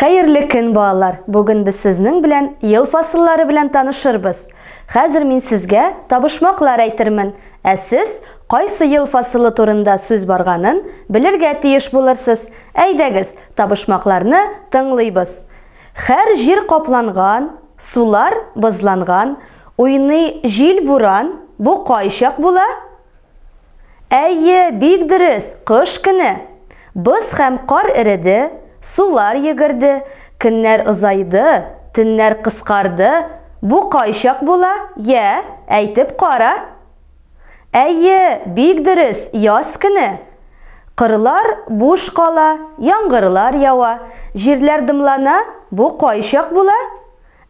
Хәерле көн, балалар! Бүген без сезнең белән ел фасыллары белән танышырбыз. Хәзер мин сезгә табышмаклар әйтермен, ә сез кайсы ел фасылы турында сүз барганын белергә тиеш булырсыз. Әйдәгез, табышмакларны тыңлыйбыз. Хәр җир капланган, сулар бозланган, уйный җил-буран, бу кайчак була? Әйе, бик дөрес, кыш көне. Боз һәм кар эреде, сулар йөгерде, көннәр озайды, төннәр кыскарды, бу кайчак була, йә, әйтеп кара? Әйе, бик дөрес, яз көне. Кырлар буш кала, яңгырлар ява, җирләр дымлана, бу кайчак була?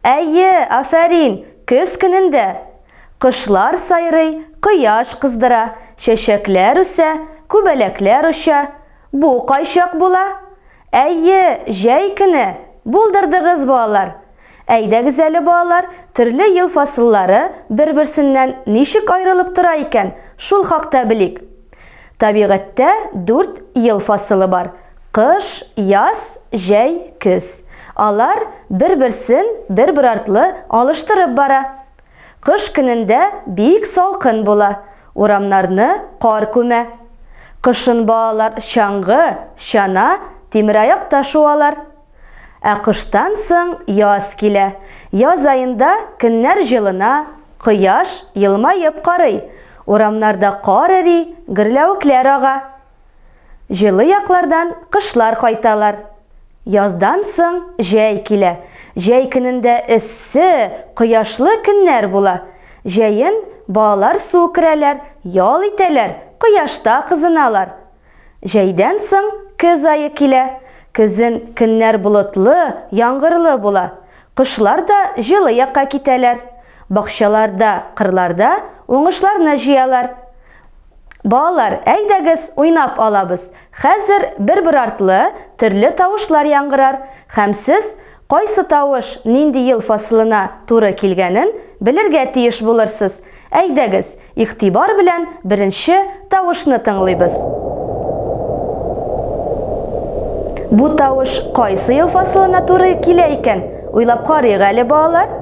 Әйе, афәрин, көз көнендә! Кошлар сайрый, кояш кыздыра, чәчәкләр үсә, күбәләкләр оча. Бу кайчак була? Әйе, җәй көне! Булдырдыгыз, балалар! Әйдәгез әле, балалар, төрле ел фасыллары бер-берсеннән ничек аерылып тора икән, шул хакта белик. Табигатьтә дүрт ел фасылы бар. Кыш, яз, җәй, көз. Алар бер-берсен бер-бер артлы алыштырып бара. Кыш көнендә бик салкын була, урамнарны кар күмә. Кышын балалар чаңгы, чана, тимераякта шуалар. Ә кыштан соң яз килә. Яз аенда көннәр җылына, кояш елмаеп карый, урамнарда кар эри, гөрләвекләр ага. Җылы яклардан кышлар кайталар. Яздан соң җәй килә. Җәй көнендә эссе, кояшлы көннәр була. Җәен балалар су керәләр, ял итәләр, кояшта кызыналар. Җәйдән соң көз ае килә. Көзен көннәр болытлы, яңгырлы була. Кошлар да җылы якка китәләр. Бакчаларда, кырларда уңышларны җыялар. Балалар, әйдәгез, уйнап алабыз. Хәзер бер-бер артлы төрле тавышлар яңгырар, һәм сез кайсы тавыш нинди ел фасылына туры килгәнен белергә тиеш булырсыз. Әйдәгез, игътибар белән беренче тавышны тыңлыйбыз. Бу тавыш кайсы ел фасылына туры килә икән? Уйлап карыйк әле, балалар.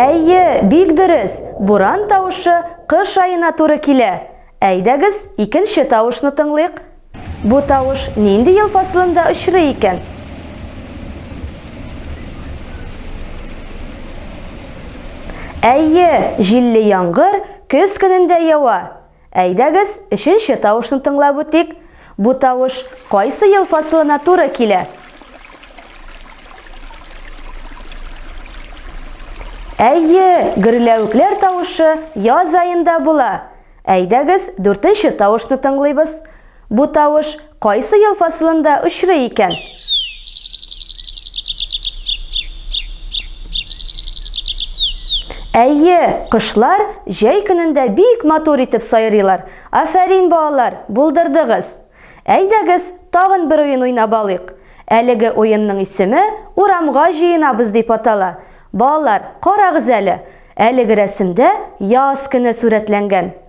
Әйе, бик дөрес, буран тавышы кыш аена туры килә. Әйдәгез, икенче тавышны тыңлыйк. Бу тавыш нинди ел фасылында очрый икән? Әйе, җилле яңгыр көз көнендә ява. Әйдәгез, өченче тавышны тыңлап үтик. Бу тавыш кайсы ел фасылына туры килә? Әйе, гөрләвекләр тавышы яз аенда була. Әйдәгез, дүртенче тавышны тыңлыйбыз. Бу тавыш кайсы ел фасылында очрый икән? Әйе, кошлар җәй көнендә бик матур итеп сайрыйлар. Афәрин, балалар, булдырдыгыз! Әйдәгез, тагын бер уен уйнап алыйк. Әлеге уенның исеме Урамга җыенабыз дип атала. Балалар, карагыз әле, әлеге рәсемдә яз көне сурәтләнгән.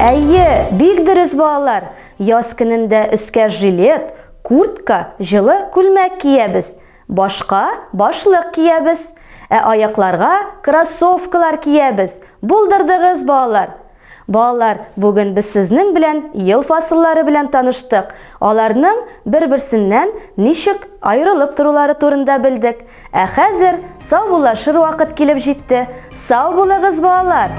Әйе, бик дөрес балалар. Яз көнендә өскә жилет, куртка, җылы күлмәк киябез. Башка башлык киябез. Ә аякларга кроссовкалар киябез. Булдырдыгыз балалар. Балалар, бүген без сезнең белән ел фасыллары белән таныштык. Аларның бер-берсеннән ничек аерылып торулары турында белдек. Ә хәзер саубуллашыр вакыт килеп җитте. Сау булыгыз, балалар!